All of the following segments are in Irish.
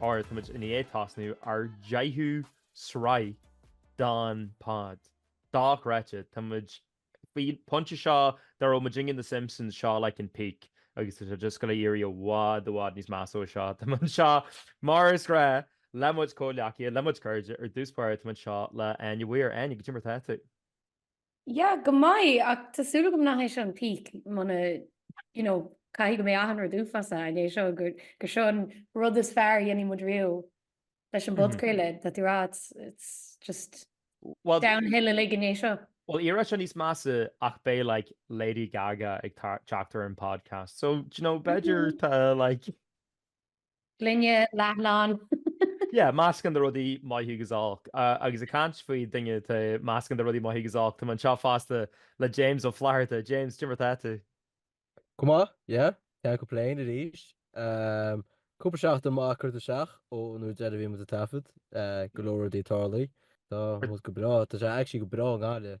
Óir táimid i ndiaidh tosnú ár deichiú sraith don pod. Dochreidte! Tá muid faoin pointe seo dá raibh muid ag déanamh The Simpsons, seo like an peak agus tá sé just gabháil a éirí i bhfad i bhfad níos measa ó seo. Tá mé anseo, mar is gnáth le mo chuid comhghleacaithe, le mo chuid cairde, ar dtús báire tá mé anseo le Áine Mhaoir. Áine, caidé mar atá tú? Yeah, go maith, ach tá súil agam nach é seo an peak, mar, you know, caithfidh go mbeidh achan rud uafásach ina dhiaidh seo, gur, gur seo an rud is fearr a dhéanfaidh muid riamh leis an bpodchraoladh, tá tú ag rá, it's, it's just downhill uilig ina dhiaidh seo. Well, éireoidh sé níos measa ach beidh, like, Lady Gaga ag teacht ar an podcast. So, do you know, b'fhéidir tá, like, Gloine leathlán. Yeah, meascán de rudaí maith agus olc. Agus ag caint faoi duine atá meascán de rudaí maith agus olc, tá mé anseo fosta le James Ó Flatharta. James, caidé mar atá tú? Go maith, yeah, can't complain arís. Cúpla seachtain maith curtha isteach ón uair dheireanach a bhí muid ag taifead, go leor rudaí ag tarlú. Tá sé go breá, tá sé actually go breá i nGaillimh.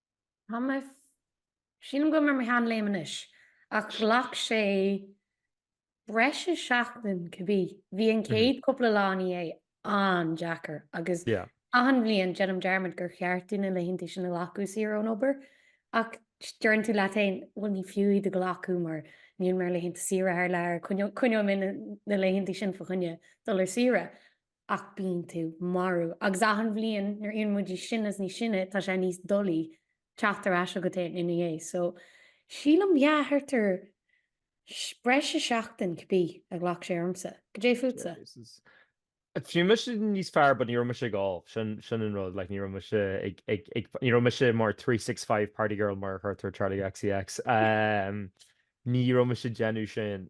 Tá mé. Sílim go bhfuil mé ar mo shean-léim anois, ach ghlac sé breis is seachtain cibé. Bhí an chéad cúpla lá ina dhiaidh an-deacair agus achan bhliain déanaim dearmad gur cheart domh na laethanta sin a ghlacadh saor ón obair ach deireann tú leat féin, bhuel ní fiú iad a ghlacadh mar níl mé ar laethanta saoire thar lear, coinneoidh mé na laethanta sin fá choinne dul ar saoire. Ach bíonn tú marbh. Agus achan bhliain, nuair a éiríonn muid níos sine is níos sine, tá sé níos doilí teacht ar ais chugat féin ina dhiaidh. So, sílim, yeah, thart ar breis is seachtain, cibé, a ghlac sé ormsa. Caidé fútsa, James? Bhí mise níos fearr, but ní raibh mise ag ól. Sin, sin an rud, like, ní raibh mise ag, ag, ag, ní raibh mise mar 365 party girl mar a chuirtear Charli XCX. Um, ní raibh mise déanamh sin.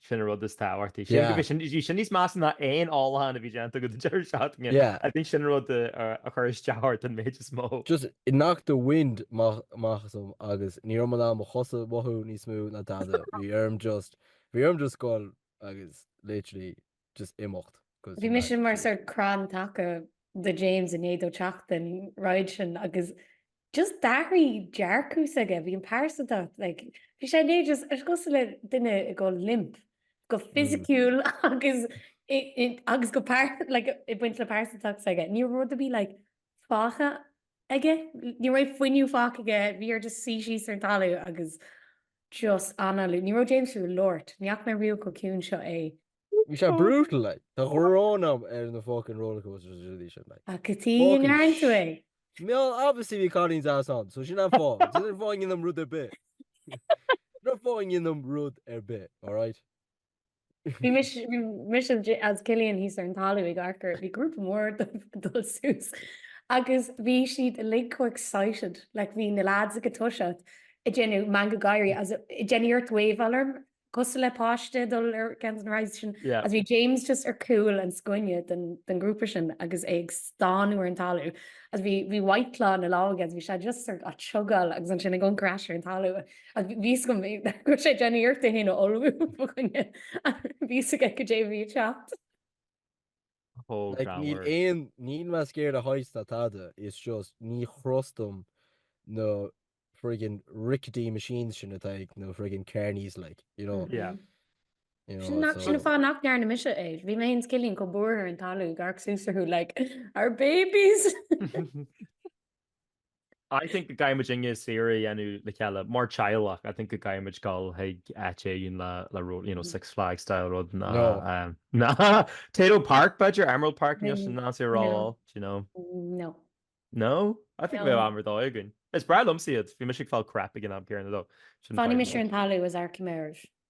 Sin an rud is tábhachtaí. Sin go bhí sin bhí sin níos measa ná aon ólachán a bhí déanta agam don deireadh seachtaine. Yeah. I think sin an rud a chuir isteach ort an méid is mó. Just it knocked the wind amach asam agus ní raibh mé in ann mo chosa a mhothú níos mó ná dada. Bhí orm just bhí orm just goil agus literally just imeacht. cos Bhí mise mar sórt crann taca do James i ndiaidh dó teacht den ride sin agus Just d'athraigh dearcadh s'aige, bhí an pearsantacht ag, bhí sé né just, cosúil le duine ag gabháil limp, go fisiciúil agus agus go pearsan, like ag baint le pearsantacht s'aige. Ní raibh rud ar bith like fágtha aige, ní raibh fuinneamh fágtha aige, bhí air just suí síos ar an talamh agus just análú, ní raibh James fiú ag labhairt, ní fhaca mé riamh chomh ciúin seo é Bhí sé brutal like. Tá an ghráin agam ar na fucking roller coasters is rudaí sin like. Ach cad chuige a fucking ndearna tú é? Mar obviously bhí cailíní deasa ann, so sin an fáth. Ní dhéanfainn féin rud ar bith. Ní dhéanfainn féin rud ar bith, alright? Bhí mis- bhí mise is J- is Cillian thíos ar an talamh ag amharc air, bhí grúpa mór ag dul suas agus bhí siad uilig chomh excited, like bhí na lads ag toiseacht ag déanamh meangadh gáirí is a- ag déanamh iarracht waveáil orm Cosúil le páiste dul ar scoil don chéad uair is bhí James just ar chúl an scuaine den ghrúpa sin agus é ag stánadh ar an talamh is bhí bhí White Claw ina lámh aige is bhí sé just á thógáil agus ansin ag amharc ar ais ar an talamh agus bhí fhios agam go raibh sé ag déanamh iarracht é fhéin a ullmhú fá choinne ach bhí fhios aige goidé a bhí ag teacht. chomh Like, níl gránna. aon, níl mé scared of heights ná tada, it's just, ní thrustaim na friggin rickety machines sin atá ag na friggin carnies, like, you know, Yeah. you know, Sin nach, sin so. an fáth nach ndearna mise é. Bhí mé féin is Cillian chomh buartha ar an talamh, ag amharc suas orthu, like, our babies! I think go gcaithfimid Eachtra saoire a dhéanamh le chéile mar teaghlach. I think go gcaithfimid dul chuig áit éigin le le ró- you know, Six Flags style rud ná No. eh, ná Tayto Park b'fhéidir, Emerald Park níl sin ró-dhona No., do you know. No. No? I think No. bheadh am ar dóigh againn. Is breá liomsa iad, bhí mise ag fáil craic ag an am céanna though. Sin Fanfaidh fadhb mise ar an talamh is arciméireamh.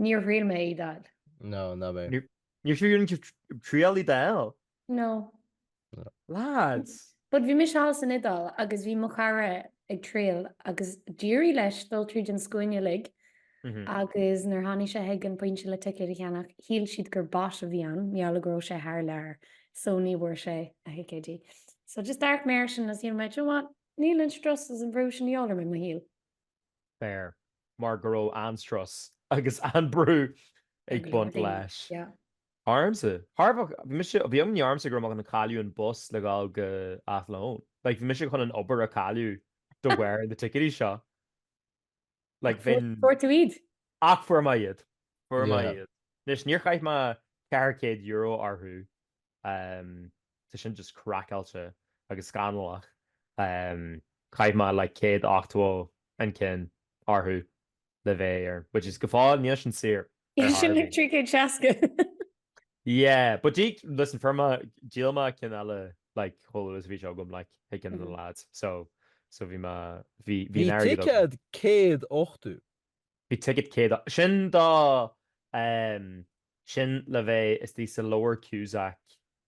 Níor thriail mé iad a fháil. No, ná mé. Níor thriail tú fiú triail iad a fháil. No. Lads! But bhí mise thall san Iodáil agus bhí mo chara ag triail agus d'éirigh leis dul tríd an scuaine uilig agus nuair tháinig sé chuig an pointe le ticéad a cheannach shíl siad gur bot a bhí ann, mar gheall go raibh sé thar lear so ní bhfuair sé na ticéidí. So just d'amharc mé air sin agus shíl mé, do you know what, níl an strus is an bhrú sin de dhíobháil orm i mo shaol. Fair. Mar go raibh an-strus agus an-brú ag baint leis. Ormsa. Bhí imní ormsa go raibh mé chun cailleadh an bus le dhul go Athlone. Like, bhí mise chun an obair a cailleadh de bharr na ticéidí seo. Like, bheinn. Ach fuair tú iad? Ach fuair mé iad. Fuair mé iad. Anois, níor chaith mé €400 orthu. Tá sin just craiceáilte agus scannalach. Chaith mé like 180 an ceann orthu le bheith ar, which is go fóill, níl sin saor Is sin Harvey. like 360. Yeah, but dí, listen, fuair mé, díol mé ceann eile like chomh luath is a bhí sé agam like chuig ceann de na lads. So, so bhí mé, bhí, bhí Bhí an airgead agam. ticéad 180. Bhí ticéad céad a. Sin do em. sin le bheith istigh sa Lower Cusack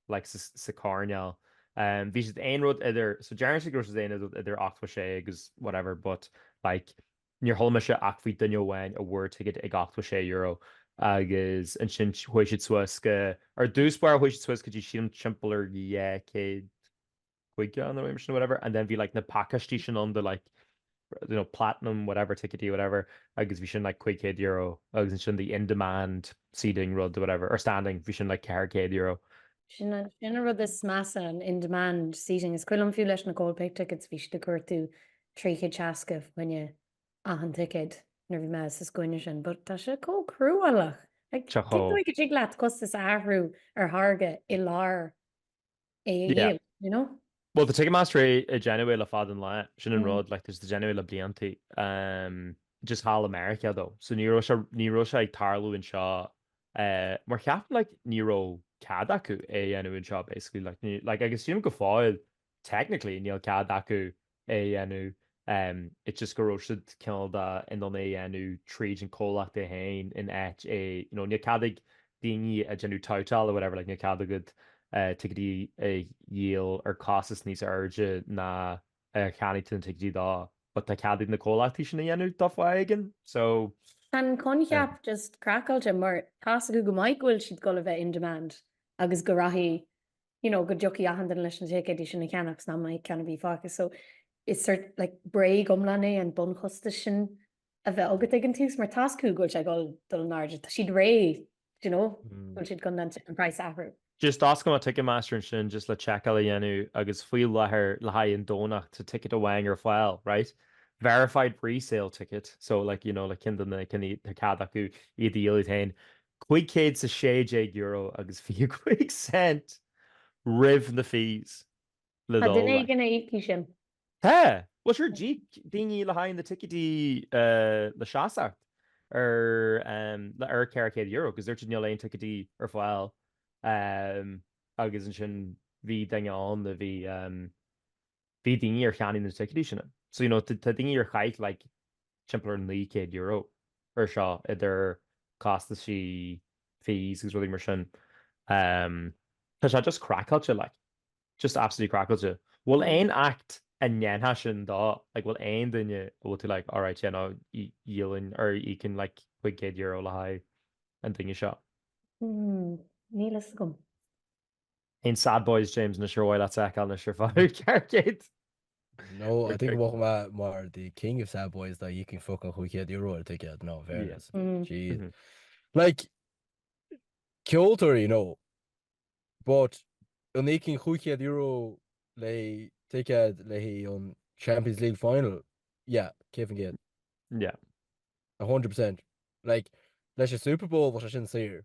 like sa, sa coirnéal em. Bhí siad aon rud idir so deireann siad go raibh siad aon rud idir ochtó a sé agus whatever but like níor chuala mise ach faoi duine amháin a bhfuair ticéad ag ochtó a sé euro agus ansin chuaigh siad suas go, ar dtús báire chuaigh siad suas go dtí sílim timpeall ar dhá chéad. chuige an airm sin whatever and then bhí like na pacáistí sin ann do like you know platinum whatever ticketí whatever agus bhí sin like €500 agus ansin the in demand seating rud or whatever or standing bhí sin like €400. Sin an sin an rud is measa an in demand seating is cuimhin liom fiú leis na Coldplay tickets bhí siad ag cuartú €360 fá choinne achan ticéad nuair bhí mé sa scuaine sin but tá sé chomh cruálach like Tá chomh. tiocfaidh go dtig leat costas a athrú ar tháirge i lár é a Yeah. dhéanamh, you know? Bhuel, tá Ticketmaster ag déanamh é le fada an lá, sin an Mm. rud, like, tá siad ag déanamh é le blianta. Um, just thall i Meiriceá, though. So ní raibh sé, ní raibh sé ag tarlú anseo, eh, mar ceapaim, like, ní raibh cead acu é a dhéanamh anseo, basically, like, ní, like, agus sílim go fóill, technically, níl cead acu é a dhéanamh, it's just go raibh siad cineál de in ann é a dhéanamh tríd an comhlacht é féin in áit é, you know, níl cead ag daoine a déanamh toutáil or whatever, like níl cead agat ticéidí a dhíol ar chostas níos airde ná a cheannaigh tú na ticéidí dó but tá cead ag na comhlachtaí sin a dhéanamh dá fáth éigin, so. Tá an coincheap just craiceáilte mar tá 's acu go maith go bhfuil siad dul a bheith in demand agus go rachaidh you know, go dtiocfaidh achan duine leis na ticéidí sin a cheannach san am céanna bhí fágtha. So is sort, like, bréag iomlán é an bunchostas sin a bheith agat ag an tús, mar tá 's acu go bhfuil sé ag dul dul in airde, tá siad réidh, do you know, go bhfuil siad chun an praghas a athrú. Just d'oscail mé Ticketmaster ansin just le seiceáil a dhéanamh agus faoi láthair le haghaidh an Domhnach tá ticket amháin ar fáil, right? Verified pre-sale ticket, so like, you know, like cinn de na, cinn iad, tá cead acu iad a dhíol iad féin. €516 agus 25 cent roimh na fees le Tá duine dul éigin a íocfaidh sin. Tá! Bhuel sure, d'íoc daoine le haghaidh na dticéidí le seasacht ar le ar €400 agus dúirt siad níl aon ticéidí ar fáil agus ansin bhí duine ann a bhí, Bhí daoine ar cheannaigh na ticéidí sin. So, you know, tá daoine ar chaith like timpeall ar €900 ar seo, idir costaisí, fees agus rudaí mar sin. Umm, tá sé just craiceáilte, like, just absolutely craiceáilte. Bhfuil aon act a ndéanfá sin dó? Like, bhfuil aon duine a bhfuil tú like, alright, yeah, no, dhíolfainn, or d'íocfainn like €500 le haghaidh an duine seo? Umm, níl a fhios agam. In Sad Boys, James, ná suífeá leat ag ceol, not sure fá thú ceart céad. No, I think bhfach mé mar the king of sad boys dá n-íocfainn fuckin' cúig chéad euro ar ticéad, no, fairness. She, like, ceoltóirí, no, but an íocfainn cúig chéad euro le ticéad le haghaidh an Champions League final, yeah, céad fan céad. Yeah. 100%. Like, leis an Super Bowl bhfuil sé sin saor.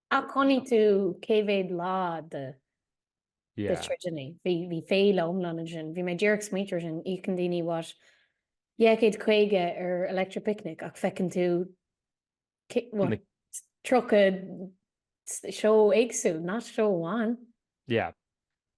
Ach chonaic tú cé mhéad lá de gigeanna. Bhí féile iomlán ansin. Bhí mé díreach ag smaointiú air sin. Íocann daoine, what, €250 ar Electric Picnic ach feiceann tú, what, 30 seó éagsúil, not seó amháin. Yeah.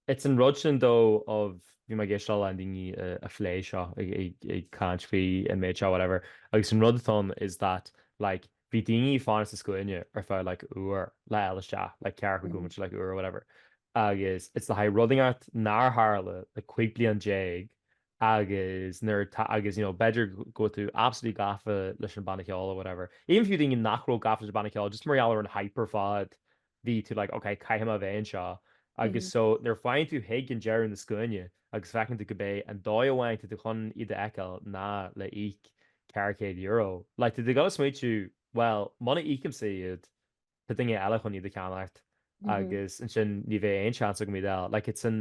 It's an rud sin though of bhí mé ag éisteacht le daoine ag plé seo ag caint faoi an méid seo whatever agus an rud atá ann is that like bhí daoine ag fanacht sa scuaine ar feadh like uair le fháil isteach like ceathrar chuig uaim like uair or whatever agus it's le haghaidh rud éigin nár tharla le cúig bliana déag agus nuair atá agus you know b'fheidir go bhfuil tú absolutely gafa leis an banna ceoil or whatever. Even fiú daoine nach raibh gafa leis an banna ceoil just mar gheall ar an hype ar fad bhí tú like ok caithfidh mé bheith anseo agus so nuair a fhaigheann tú chuig deireadh na scuaine agus feiceann tú gurb é an dóigh amháin atá tú chun iad a fheiceáil ná le íoc ceithre chéad euro like tá tú ag dul a smaointiú bhuel muna íocaimse iad tá duine eile chun iad a cheannacht agus ansin ní bheidh aon seans agam iad a fháil like it's an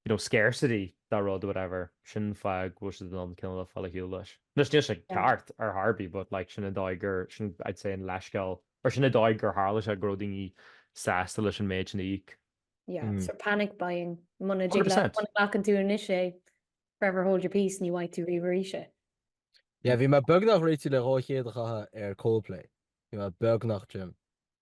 you know, scarcity de rud, whatever, sin fáth go bhfuil siad in ann cineál fáil ar shiúl leis. Anois níl sé Yeah. ceart ar chor ar bith but like sin an dóigh gur, sin I'd say an leithscéal, or sin an dóigh gur tharla sé go raibh daoine sásta leis an méid sin a íoc. Yeah, Mm. so panic buying. Muna dtig le- 100%. muna nglacann tú anois é, forever hold your peace, ní bhfaighidh tú riamh arís é. Yeah, bhí mé beagnach réitigh le dhá chéad a chaitheamh ar Coldplay. Bhí mé beagnach trim.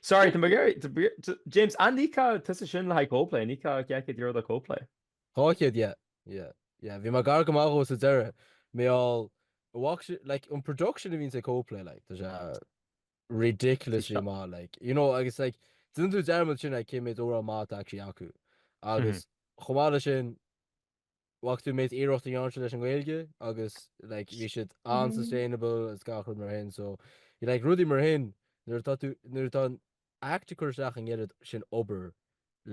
Sorry, tá Mcquarrie, tá Bríd, tá James, an íocfá tusa sin le haghaidh Coldplay, an íocfá céad euro le Coldplay. Dhá chéad, yeah, yeah, yeah. Bhí mé gar go maith dhó sa deireadh, mar gheall, like, an production a bhíonns ag Coldplay, like, tá sé ridiculously Seo. maith, like, you know, agus, like, déanann tú dearmad sin, like, cé mhéad amhrán maith atá actually acu. Agus, chomh maith le sin, Bhfaca tú an méid iarracht a dtearn siad leis an nGaeilge agus like bhí siad an-sustainable is gach rud mar sin so you like rudaí mar sin nuair atá tú nuair atá an Act ag cur isteach an oiread sin obair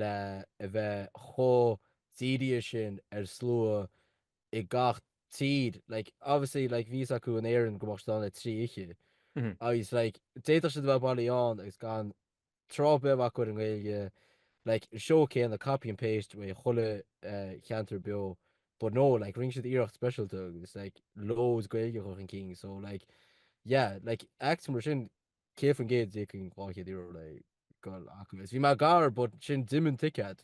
le a bheith chomh dírithe sin ar slua i gach tír like obviously like bhí a fhios acu in Éirinn go mbeadh siad ann le trí oiche agus like d'fhéadfadh siad a bheith bailí ann agus gan tráth beag acu ar an nGaeilge like an seó céanna, copy and paste ó chuile cheantar beo but no like rinne siad iarracht speisialta is like loads Gaeilge a chur chun cinn so like yeah like acts mar sin 100% d'íocfainn 200 euro le goil chucu is bhí mé gar but sin d'imigh an ticeád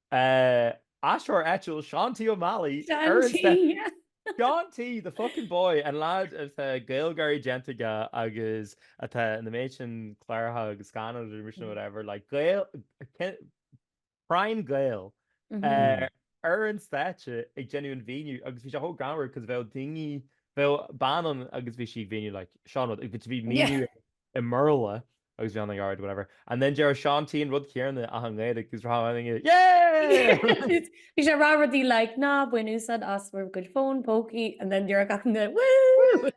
Eh, aisteoir eile Seán T. Ó Meallaigh, Seán T. Seán T, the fucking boy, an leaid atá Gaeilgeoirí déanta aige agus atá an méid sin cláracha agus scannáin nó whatever, like prime Gael, eh, ar an stáitse ag déanamh an mhínithe agus bhí sé chomh greannmhar because bheadh daoine, bheadh bean ann agus bhí sí ag míniú like seo an rud agus bhí míniú i mBéarla agus bhí an yeah whatever and then déarfadh Seán T an rud céanna ach i nGaeilge agus bhíodh gach duine yay! Bhí sé ag rá rudaí like ná bain úsáid as bhur gcuid fón pócaí and then déarfadh gach éinne woo!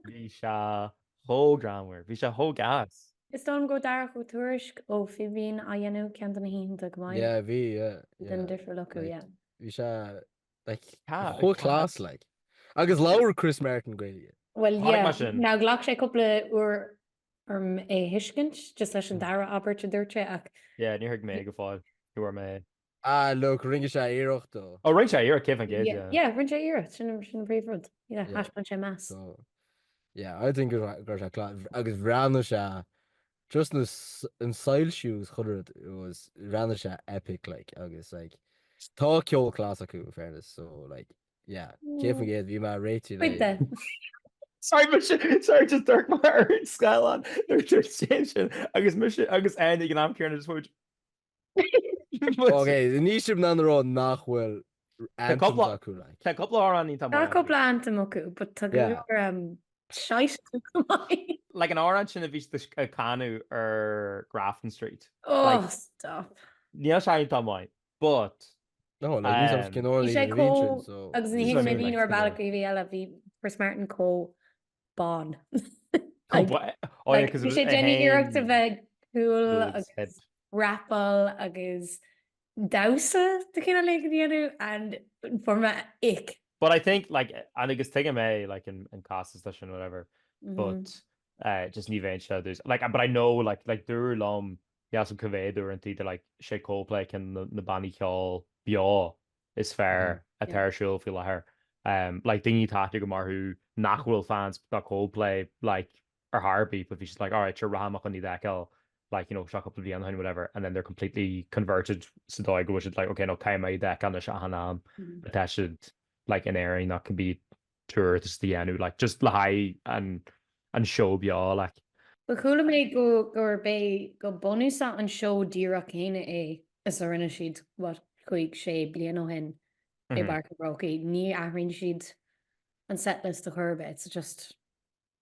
Bhí sé chomh greannmhar. Bhí sé chomh deas. Is dóigh liom go raibh Darach Ó Tuairisg ó Fhíbín á dhéanamh ceann de na hoícheanta chomh maith. Yeah bhí yeah yeah. Bhí an difear leofa yeah. Bhí sé Chomh class like. Agus labhair Chris Martin Gaeilge. Bhuel yeah, nár ghlac sé cúpla uair orm é a thuiscint, just leis an dara abairt a dúirt sé ach. Yeah, níor thuig mé go fóill é. Ah look, rinne sé iarracht though. Oh rinne sé iarracht, céad faoin gcéad yeah. Yeah, rinne sé iarracht, sin an príomhrud. Yeah, thaispeáin sé meas. So yeah, I think go raibh sé class agus bhreathnaigh sé Just na an soil shoes chun rud was ranna se epic like agus like tá ceol clas acu in fairness so like yeah cé fan géad bhí me réitiú le Sorry, but she, sorry, just dark my heart, Scalon. They're just changing. Agus mission, agus Andy, and I'm Kieran, just watch. Ok, níl sibh in ann a rá nach bhfuil anthems acu, like. Tá cúpla amhrán an-mhaith acu. Tá cúpla anthem acu, but tá go leor shite acu chomh maith. Like an amhrán sin a bhí siad ag canadh ar Grafton Street. Oh, stop. Níl sé iontach maith, but. No, like ní sibh cineálaí na region, so. Bhí sé chomh, agus ní thuigim é, ní ar bhealach ar bith eile, bhí Chris Martin chomh bán. Bhí sé ag déanamh iarracht a bheith cool agus rapáil agus damhsa de chineál éigin a dhéanamh and fuair mé ick. But I think like, and agus tuigim é like i gcás stáitse whatever but eh just ní bheinn sé dtús like but I know like like dúradh liom, an méid sin uaireanta gurb é like is é Coldplay ceann de na bannaí ceoil beo is fearr atá ar siúl faoi láthair. Like daoine atá ag dul go mór mhór nach bhfuil fans de Coldplay like ar chor ar bith but bhí siad like alright sure rachaidh mé chun iad a fheiceáil like you know seo cúpla bliain ó shin whatever and then they're completely converted sa dóigh go bhfuil siad like ok no caithfidh mé iad a fheiceáil anois achan am atá siad like in Éirinn nó cibé tour atá siad ag déanamh like just le haghaidh an an seó beo like. But chuala mé go gurb é go bunúsach an seó díreach céanna é is a rinne siad what cúig sé bliana ó shin i bPáirc an Chrócaigh. Ní athraíonn siad an setlist a chor ar bith it's just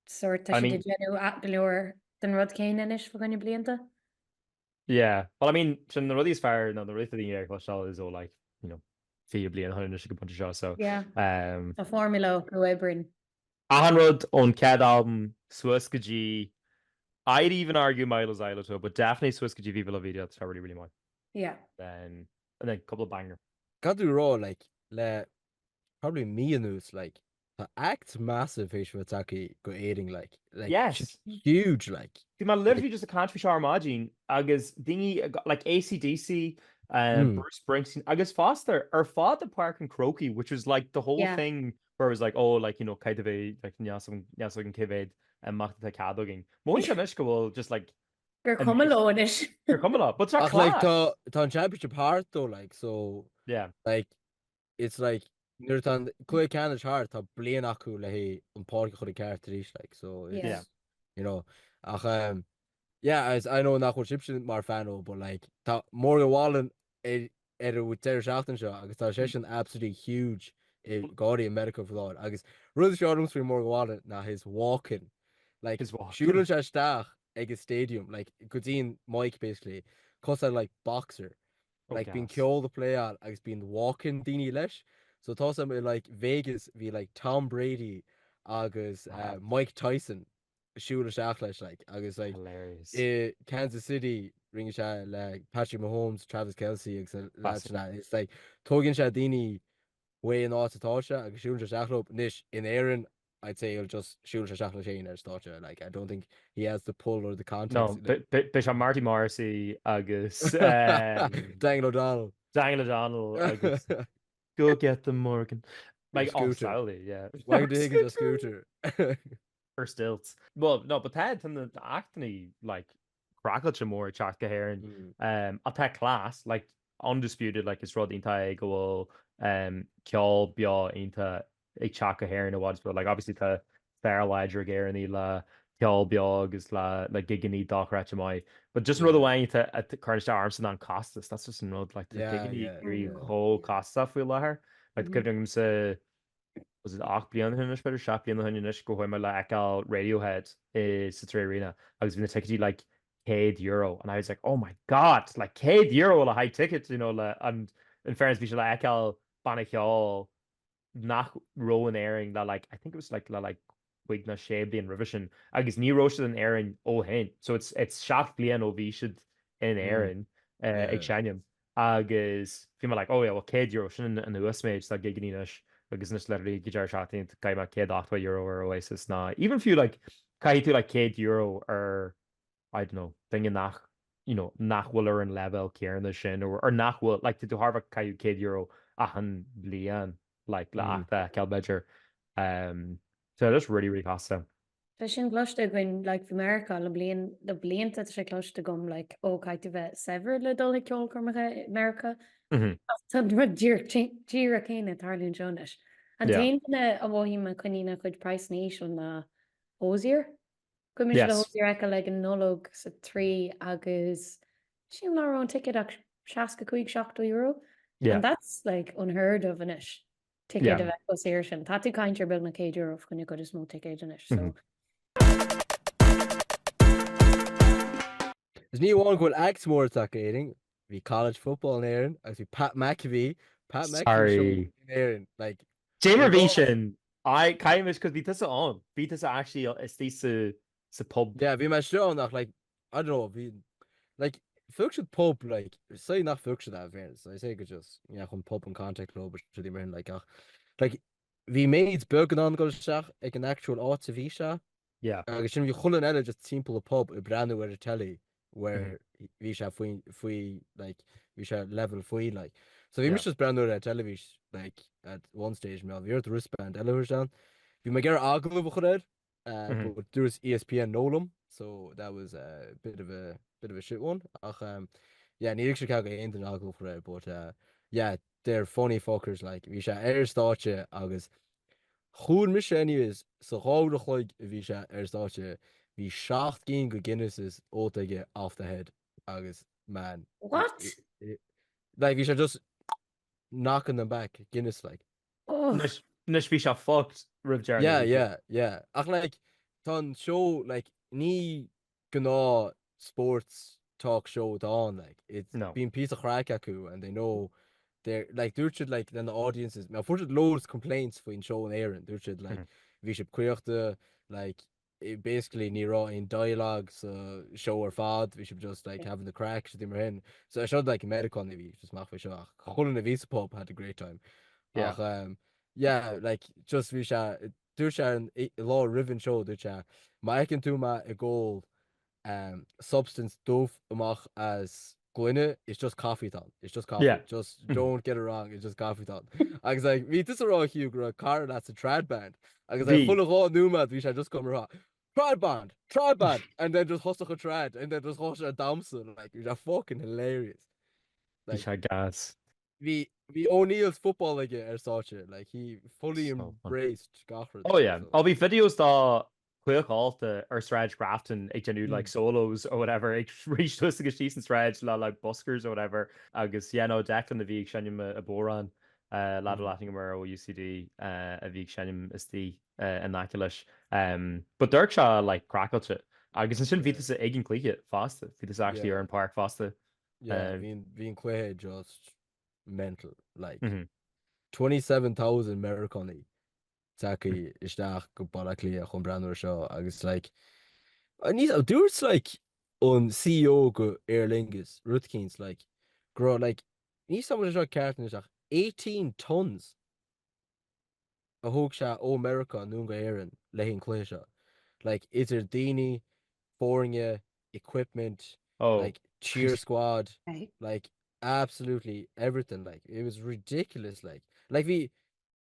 sort tá siad ag déanamh go leor den rud céanna anois fá choinne blianta. Yeah, well I mean, sin na rudaí is fearr, nó na rudaí atá daoine ag cloisteáil is all like, you know, fiche bliain ó shin anois ag an bpointe seo, so. Yeah, um, tá formula acu a oibríonn. Achan rud ón gcead albam suas go dtí, I'd even argue Mylo Xyloto, but definitely suas go dtí Viva La Vida, tá really, really maith. Yeah. Then, and then, a couple of banger. Cad tá tú a rá, like, le probably mí anuas like tá act massive fé seo tacaí go Éirinn like like yes it's huge like Bhí man literally just a cant fé seo ar maidín agus daoine like ACDC uh, mm. Bruce Springsteen agus foster ar fad a Park and Croaky which was like the whole yeah. thing where it was like oh like you know caiid a bhé like neas an cévéid a macht a cad agin. Móin se mis go bhfuil just like Gur cum leis Gur cum lá, but tá an championship hart though like so yeah like it's like nuair atá an cluiche ceannais thart tá bliain acu le hí an pháirc a chur i gceart arís like so it's Yeah. you know ach um, yeah agus I know nach bhfuil sibse mar fan de but like tá Morgan Wallen ann an deireadh seachtaine seo agus tá sé sin absolutely huge i gáirí America fláir agus rud is fearr liomsa faoi Morgan Wallen ná his walk-in like His walk-in. siúlann sé isteach ag an stadium like go dtí an mic basically cosúil le boxer like bíonn ceol ag playáil agus bíonn walk-in daoine leis so tá's agam i like Vegas bhí like Tom Brady agus uh, Mike Tyson ag siúl isteach leis like agus like Hilarious. i Kansas City rinne sé é le Patrick Mahomes, Travis Kelce agus na lads sin a- it's like tógann sé daoine ón áit atá sé agus siúlann sé isteach leo. Anois in Éirinn I'd say he'll just siúlfaidh sé isteach leis féin ar stáitse like I don't think he has the pull or the contacts. No, beidh sé Marty Morrissey agus Daniel O'Donnell. Daniel O'Donnell agus Go get them Morgan. Like Grand Sally, yeah. Michael D. Higgins ar scooter? Or stilts. Well, no, but tá na acts ag éirí like craiceáilte mór ag teacht go hÉirinn. Ach tá class, like undisputed, like is rud iontach é go bhfuil ceol beo iontach ag teacht go hÉirinn in a way but like obviously tá fiabhras láidir ag Éirinn le ceol beo agus le le gigeannaí dochreidte amháin but just an rud amháin atá a chuireann isteach ormsa ná an costas that's just an rud like tá Yeah, gigeannaí yeah, ag éirí yeah, chomh yeah. costasach faoi láthair like Mhm. cuimhnímse was it 8 mbliana ó shin anois b'fhéidir 7 mbliana ó shin anois go ndeachaigh mé le feiceáil Radiohead i sa 3Arena agus bhí na ticéid like 100 euro and I was like oh my god like 100 euro le haghaidh ticket you know le and in fairness bhí sé le feiceáil banna ceoil nach raibh in Éirinn le like, I think it was like le like cúig nó sé bliain roimhe sin, agus ní raibh siad in Éirinn ó shin. So it's it's seacht mbliana ó bhí siad in Éirinn ag seinm agus bhí mé like oh yeah well €100 sin an uasmhéid atá gigeannaí anois agus anois literally ag an deireadh seachtaine chaith mé €180 ar Oasis nó even fiú like caithfidh tú like €100 ar I don't know, duine nach, you know, nach bhfuil ar an leibhéal céanna sin or nach bhfuil, like, tú thar a bheith ag caitheamh €100 achan bhliain, like, le act a fheiceáil, b'fhéidir. Um, so tá sé really, really costasach. Tá sin cloiste againn, like, faoi Mheiriceá le, le blianta tá sé cloiste agam, like, ó caithfidh tú a bheith saibhir le dul ag ceolchoirmeacha i Meiriceá. Mhm. Ach tá an rud díreach céanna ag tarlú anseo anois. An Yeah. t-aon duine a mhothaíonn mé a choinníonn a chuid praghsanna íseal ná Hozier. Chuaigh mise le Hozier a fheiceáil ag an Nollaig sa 3 agus sin ní raibh an ticket ach €65-70 and that's like unheard of anois, ticéid a bheith chomh saor sin. Tá tú ag caint ar beagnach €100 fá choinne an chuid is mó ticéid anois so. Is ní amháin go bhfuil acts mór ag teacht go hÉirinn, Bhí college football in Éirinn agus bhí Pat McAfee, Pat McAfee Sorry. show in Éirinn. Like, Dé mar bhí sin! Aye, caithfidh mise, 'cause bhí tusa ann. Bhí tusa actually istigh sa, sa pub. yeah, bhí mé istigh ann ach like, I don't know, bhí, like, phioc siad pub, like, say nach phioc siad é in fairness, I say go just, yeah, chuaigh an pub in contact leob, rudaí mar sin, like, ach, like, Bhí méid beag in ann dul isteach ag an actual áit a bhí sé. Yeah. Agus ansin bhí chuile dhuine eile just timpeall an pub ag breathnú ar an telly where bhí sé faoi faoi like bhí sé level faoi like. So bhí Yeah. mise just breathnú ar an teilifís like at one stage mar bhí ort wristband eile a thabhairt ann. Bhí mé ag iarraidh agallamh a chur air Uh, mm-hmm. But dúirt ESPN no liom, so that was a bit of a bit of a shit one. Ach, um, yeah, níor thug siad cead do aon duine agallamh a chur air, but uh, yeah, they're funny fuckers, like, bhí sé ar stáitse agus chonaic mise anyways sa dhá uair a chloig a bhí sé ar stáitse bhí 7 gcinn de Guinnesses ólta aige off the head agus man. What? It, it, like, bhí sé just knocking them back Guinness, like. Ugh. Anois bhí sé fucked roimh deireadh na hoíche. Yeah, yeah, yeah. Ach like, tá an seó, like, ní gnáth sports talk show atá ann, like, it's, No. bíonn píosa craic acu and they know they're, like, dúirt siad, like, then the audiences, now, fuair siad loads complaints faoin seó in Éirinn, dúirt siad, like, bhí siad caochta, like, basically ní raibh aon dialogue sa seó ar fad, bhí sibh just like having the craic, rudaí mar sin. So iad siúd like Meiriceánaigh a bhí just amach faoi seo ach chuile dhuine a bhí sa pub had a great time. Yeah. Ach um, yeah, like just bhí sé, dúirt sé ar an i- lá roimh an seó, dúirt sé, má fheiceann tú mé ag ól substance dubh amach as gloine, it's just coffee atá ann, it's just coffee, yeah. just don't get it wrong, it's just coffee atá ann. Agus like, bhí tusa ag rá fiú go raibh cara leat sa trad band, agus like, chuile dhá nóiméad bhí sé just go mar trad band, trad band, and then just thosaigh an trad, and then just thosaigh sé ag damhsa, like, bhí sé fucking hilarious. Like, bhí sé gas. Bhí Bhí O'Neill's football aige ar stáitse, like he fully embraced gach rud. Oh yeah, á bhí videos dá chiceáil thart ar Sráid Grafton ag déanamh like solos or whatever, ag rith suas agus síos an sráid le like buskers or whatever agus yeah no Declan a bhí ag seinm an bodhrán, lad a bhfuil aithne agam air ó UCD a bhí ag seinm istigh in aice leis. But d'amharc sé like craiceáilte agus ansin bhí tusa ag an gcluiche fosta, bhí tusa actually ar an páirc fosta. Yeah bhí an cluiche just mental like 27,000 Meiriceánaigh tagtha isteach go Baile Átha Cliath chun breathnú ar seo agus like I need a dúirt like an CEO go Aer Lingus, rud eicínt, like go raibh like níl a fhios agam an bhfuil seo ceart anois ach 18 tons a thóg sé ó Mheiriceá anonn go hÉirinn le haghaidh an cluiche seo like idir daoine, foirne, equipment, Oh. like cheer squad, Right. like absolutely everything like it was ridiculous like like bhí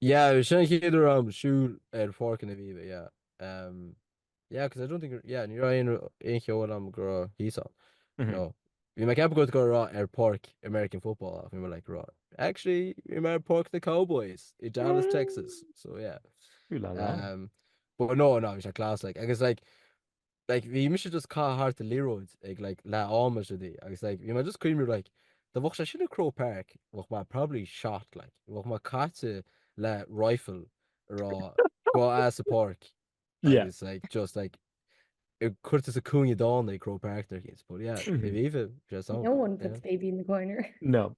Yeah, sin an chéad uair dom siúl ar pháirc an Aviva, yeah. Um, yeah, because I don't think, yeah, ní raibh aon, aon cheol am go raibh thíos ann. Mm -hmm. No. Bhí mé ag ceapadh go go raibh ar pháirc American football ach bhí mé like, raibh. Actually, bhí mé ar pháirc the Cowboys i Dallas, mm. Texas, so yeah. Ooh la la. Um, but no, no, bhí sé class, like, agus like, like bhí mise just ag caitheamh thart liathróid ag like leath am is ea di agus like bhí mé just ag cuimhniú like dá mbeadh sé sin i Croke Park bheadh mé probably shot like bheadh mé caite le rifle ag rá gabh as an bpáirc Yeah. agus like just like curtha sa cúinne dána i Croke Park ar chéad but yeah bhí sé just No one puts baby in the corner. No,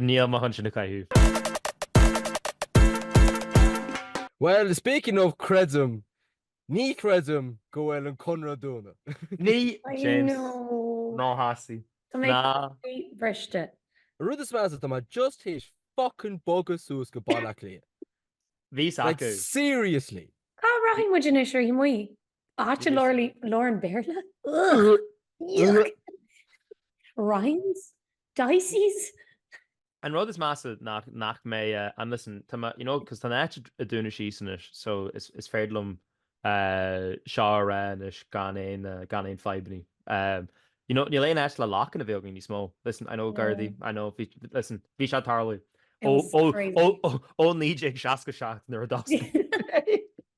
Níl mé chun sin a chaitheamh. Well, speaking of creidim, ní chreidim go bhfuil an Conradh ag dúnadh. Ní! James, ná hasí. Tá mé croíbhriste. An rud is measa, tá mé just théis fucking bogadh suas go Baile Átha Cliath. Bhí a fhios acu. Like, seriously! Cá rachaidh muid anois ar oíche amuigh? Áit a labhrann Béarla? Yuck! Ryan's? Dicey's? An rud is measa nach mbeidh, and listen, you know, cos tá an áit ag dúnadh síos anois, so is féidir liom seo a rá anois gan aon fadhbanna. You know, níl aon áit le lock-in a bheith againn níos mó. Listen, I know Gardaí, I know, listen, bhí sé ag tarlú ó 1967 nuair a d'oscail sé.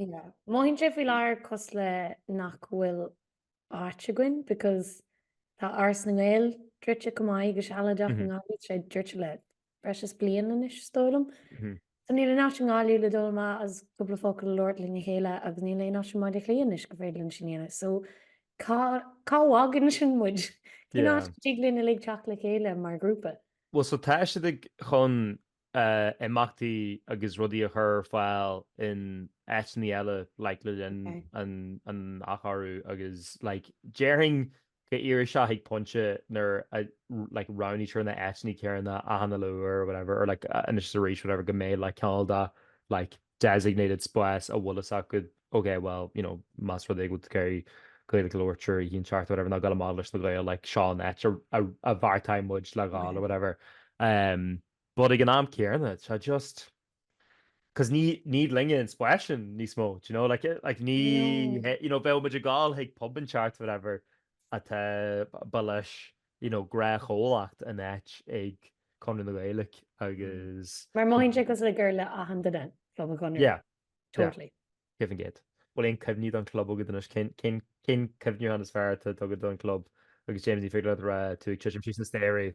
Mothaíonn sé faoi láthair cosúil le nach bhfuil áit againn because tá Áras na nGael druidte chomh maith go sealadach i nGaillimh tá sé druidte le breis is bliain anois is dóigh liom. So níl aon áit i nGaillimh le dul amach agus cúpla focal a labhairt lena chéile agus níl aon áit i mBaile Átha Cliath anois gur féidir linn sin a dhéanamh. So cá bhfágann sin muid? Cén áit a dtig linn uilig teacht le chéile mar ghrúpa? Bhuel so tá siad ag chun imeachtaí agus rudaí a chur ar fáil in áiteanna eile like le linn an athchóiriú agus like déarfainn go n-éireoidh sé chuig pointe nuair a roghnaítear na áiteanna céanna achan uile uair or whatever or like anois is arís whatever go mbeidh like kind of like designated spás a bhfuil a fhios agat ok well you know más rud é go bhfuil muid ag iarraidh Gaeilge a labhairt triúr each an tearc or whatever nó dul amach leis na Gaeil like seo an áit a bheartaigh muid le dhul or whatever. But ag an am céarna tá just, cos ní linne an spás sin níos mó, do you know, like like ní No. he, you know, bheadh muid ag gol chuig pub an ceart whatever atá ba leis, you know, gnáthchomhlacht in áit ag Conradh na Gaeilge agus Mar mothaíonn sé cosúil le gur le achan duine club an Chonradh. Yeah, yeah. Totally. Give and get. Bhfuil aon cuimhní den club agat anois? Cén cén cén cuimhneachán is fearr atá agat den club agus James ní féidir leat a rá tú ag titim síos na staighre?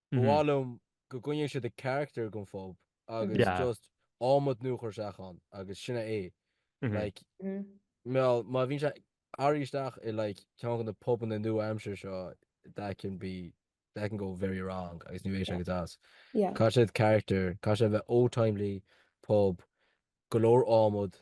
Ba mhaith liom go gcoinneodh siad a character den phub agus just adhmad nua a chur isteach ann agus sin é. Like, má bhíonn sé athraithe isteach i like ceann de na pubanna nua aimsire seo that can be, that can go very wrong agus ní bheidh sé go deas. Caithfidh sé character, caithfidh sé bheith old-timely pub, go leor adhmad,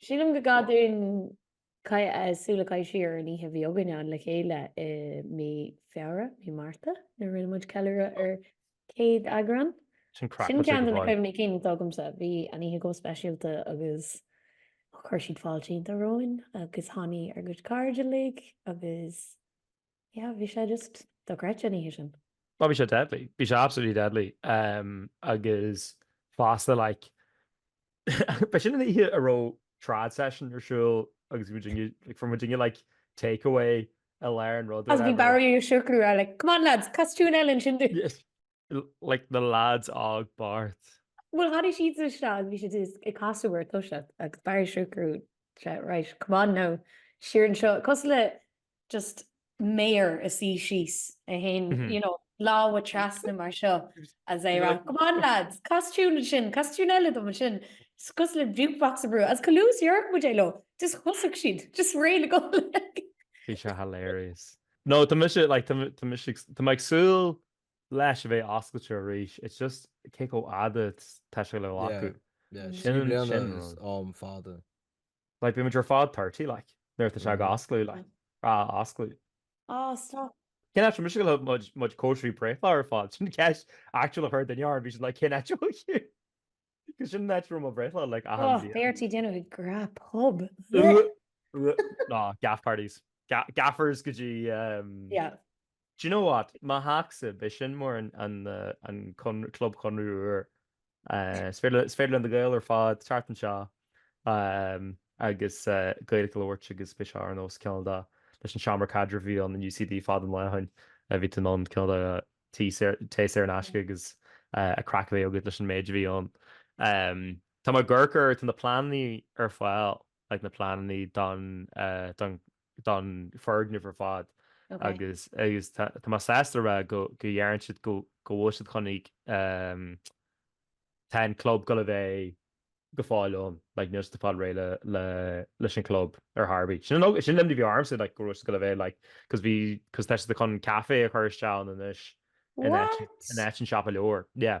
Sílim go gcaithfinn súil a chaitheamh siar ar an oíche a bhí againn féin le chéile i mí Feabhra, mí Márta, nuair a rinne muid ceiliúradh ar céad eagrán. Sin craic Sin ceann de na cuimhní cinn atá agamsa. Bhí an oíche chomh speisialta agus chuir siad fáilte iontach romhainn agus tháinig ár gcuid cairde uilig agus Yeah, bhí sé just dochreidte an oíche sin. Oh, bhí sé deadly. Bhí sé absolutely deadly. Um, agus fosta, like, ba sin an oíche a raibh trad session ar siúl agus bhí muidinne, like, bhí muidinne, like, takeaway i lár an rud. Agus bhí Barry Ó Siochrú ar, like, come on lads, cas tune eile ansin dom. Yes. Like, na lads á gbairt. Bhuel, tháinig siad sa seo agus bhí siad just ag casadh ar toise agus Barry Ó Siochrú, right, come on now, siar anseo. Cosúil le just mar a suí síos é féin, you know, lámha trasna mar seo is é ag rá, Come on lads, cas tiún ansin, cas tiún eile dom ansin, cosúil le jukebox a bhrú, is chomh luath is a dúirt muid é leo, just thosaigh siad, just réidh le gol. Bhí sé hilarious. No, tá mise, like, tá, tá mise, tá mé ag súil leis a bheith oscailte arís, it's just cé chomh fhada tá sé le glacadh. Yeah, yeah, sin, sin an rud. Am fada. Like, beimid ar fad thirty, like, nuair atá sé ag osclú, like, a osclú. Ah, stop. Cén áit mise go bhfuil muid, muid cóisirí breithlá ar fad? Sin ceist actual a chuir duine orm, bhí siad like, cén áit a bhfuil tú? Cos sin an áit a raibh mo bhreithlá, like, achan Oh, bhliain. beidh ort é a dhéanamh ag gnáth-pub. Ugh! Ugh! Nó, gaff parties. Ga- gaffers go dtí, um, Yeah. Do you know what? Mo theachsa, beidh sin mar an club Chonradh Úr. Is féidir linn do Gaeil ar fad teacht anseo agus Gaeilge a labhairt agus beidh sé ar nós cineál de leis an seomra caidrimh a bhí ann in UCD fad an lae thoinn. Bhí tú in ann cineál de tae saor in aisce agus a craic a bheith agat leis an méid a bhí ann. Tá mé ag amharc ar, tá na pleananna ar fáil, na pleananna don don foirgneamh ar fad agus tá mé sásta a rá go dhearna siad go bhfuil siad chun ag tá an club ag dul a bheith go fóill ann, like níl siad ag fáil réidh le leis an club ar chor ar bith. Sin an sin an imní a bhí ormsa like go raibh siad ag dul a bheith like cos bhí cos tá siad chun caife a chur isteach ann anois in áit in áit an siopa leabhar, yeah.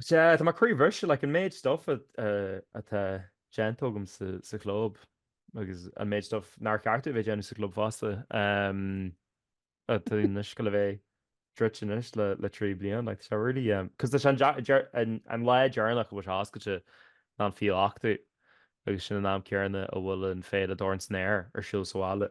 Sea, tá mé croíbhriste, like, an méid stuff atá déanta agam sa chlub agus an méid stuff nár cheart domh a bheith ag déanamh sa chlub fosta, tá anois ag dul a bheith druidte anois le trí bliana, like, tá sé really, cos tá sé an lá deireanach a bhfuil sé oscailte ná an fichiú ochtú agus sin an am céanna a bhfuil an féile Dorn san Aer ar siúl sa bhaile.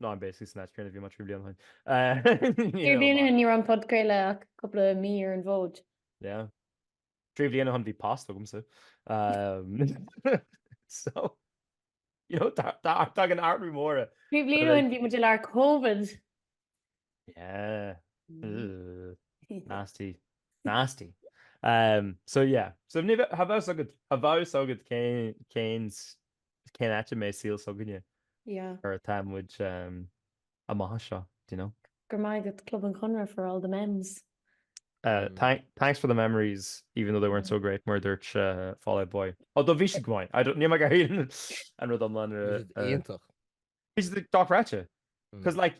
No, I'm basically snatch train bhí muid trí bliana ó shin. Trí bliana ó shin ní raibh an podchraoladh ach cúpla mí ar an bhfód. Yeah. Trí bliana ó shin bhí post agamsa. So, you know, tagann athruithe móra. Trí bliana ó shin bhí muid i lár Covid. Yeah. Nasty. Nasty. Um, so yeah. So cha bheadh a fhios agat céns Is cén áit a mbeidh saol s'againne Yeah. nuair atá muid amach as seo, do you know? Go raibh maith agat Club an Chonradh for all the mems. Thanks for the memories even though they weren't so great mar a dúirt Fall Out Boy. Although bhí siad go maith. I don't, níl mé ag iarraidh an rud iomlán a rá. Bhí siad iontach. Is dochreidte. Cos like,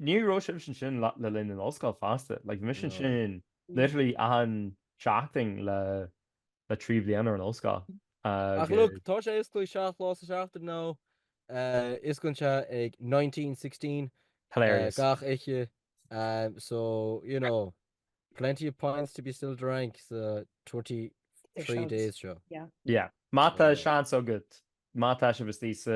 ní raibh sin sin sin le linn an ollscoil fosta, like mis sin sin literally an seachtain le le trí bliana an ollscoil. Ach look, tá sé oscailte seacht lá sa seachtain nó osclaíonn sé ag 1916 Hilarious. gach oíche, so you know. Plenty of pints to be still drank sa 23 days seo. Yeah. Má tá seans agat, má tá sibh istigh sa,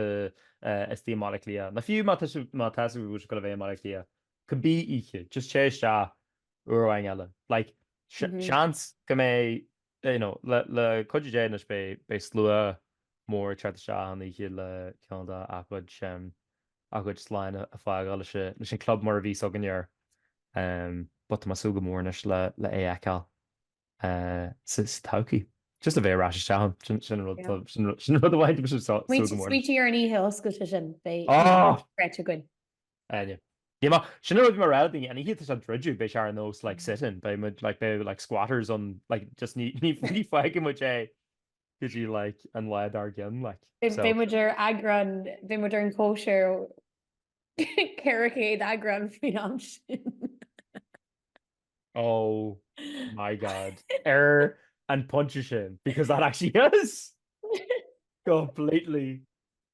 eh, istigh i mBaile Átha Cliath, nó fiú má tá sibh, má tá sibh ag dul a bheith i mBaile Átha Cliath, cibé oíche, just téigh isteach uair amháin eile. Like, se- seans go mbeidh Beidh, you know, le cuidiú Dé, anois beidh slua mór ag teacht isteach an oíche le ceann dá gcuid, a gcuid slán a fhágáil leis an club mar a bhí 's againne air. But tá mé ag súil go mór anois le é a fheiceáil sa todhchaí. Just le bheith ar ais isteach ann, sin, sin an rud, Yeah. sin rud, sin an rud amháin a bhfuil mé ag súil go mór. Smaointigh ar an oíche oscailte sin, beidh, beidh craic againn. Áine, Yeah. Sin an rud a bhí mé ag rá le daoine, an oíche atá sé ag druideadh, beidh sé ar nós like sit-in, beidh muid like, beidh like squatters ann like just ní, ní, ní fhágfaidh muid é go dtí like an lá dár gcionn like, so. Beidh muid ar eagrán, beidh muid ar an gcóisir 400 eagrán faoin am sin. Oh my God. Ar an pointe sin, because that actually is completely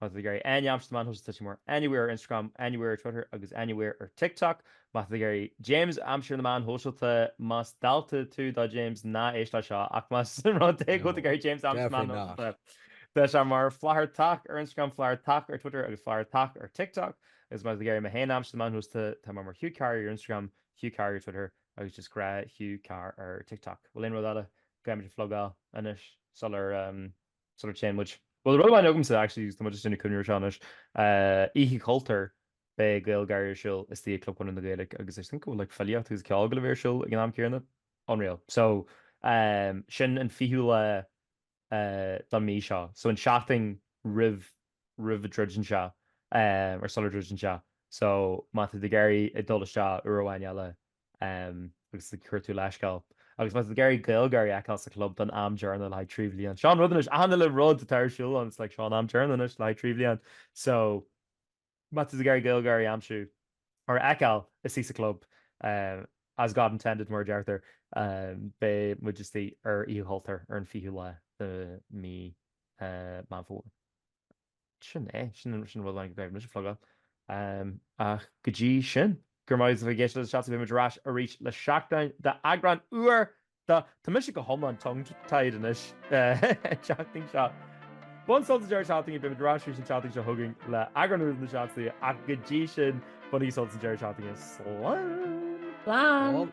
Má tá tú ag iarraidh Áine a aimsiú ar na meáin shóisialta, tá sí ann mar Anywhere ar Instagram, Anywhere ar Twitter agus Anywhere ar TikTok. Má tá tú ag iarraidh James a aimsiú ar na meáin shóisialta. Más dalta tú do James, ná héist leis seo, ach más rud é go bhfuil tú ag iarraidh James a aimsiú ar na meáin shóisialta, tá sé mar Flathartach ar Instagram, Flathartach ar Twitter agus Flathartach ar TikTok. Is má tá tú ag iarraidh mé féin a aimsiú ar na meáin shóisialta, tá mé mar Hugh Carr ar Instagram, Hugh Carr ar Twitter agus just gnáth Hugh Carr ar TikTok. Bhfuil aon rud eile go gcaithfimid a phlugáil anois sular. sular dtéann muid, bhuel rud amháin agamsa actually, tá mé just i ndiaidh cuimhneamh ar seo anois, Oíche Chultúir, beidh GaelGÁIRÍ ar siúl istigh i gClub Chonradh na Gaeilge agus I think go bhfuil like filíocht agus ceol ag gabháil a bheith ar siúl ag an am céanna. Unreal. So sin an fichiú lá don mí seo, so an seachtain roimh roimh a druideann sé, or sular druideann sé, so má tá tú ag iarraidh a dhul isteach uair amháin eile agus ag cuartú leithscéal. Agus má tá tú ag iarraidh GaelGÁIRÍ a fheiceáil sa chlub don am deireanach le haghaidh trí bhliain. Seo an rud anois, achan uile rud atá ar siúl ann, it's like seo an t-am deireanach anois le haghaidh trí bhliain. So, má tá tú ag iarraidh GaelGÁIRÍ a aimsiú, or a fheiceáil, is é sa chlub, as God intended mar a deirtear, beidh muid istigh ar Oíche Chultúir ar an 20ú lá de mhí Meán Fómhair. Sin é, sin an rud amháin go gcaithfidh mise a phlugáil. Ach go dtí sin, go raibh maith agat as a bheith ag éisteacht leis Na Seansálaithe, beidh muid ar ais arís le seachtain d'eagrán úr de Tá mise go hiomlán tongue-tied anois an tseachtain seo. Bain sult as an deireadh seachtaine, beimid ar ais arís an tseachtain seo chugainn le eagrán úr de Na Seansálaithe ach go dtí sin, bainigí sult as an deireadh seachtaine. Slán! Slán!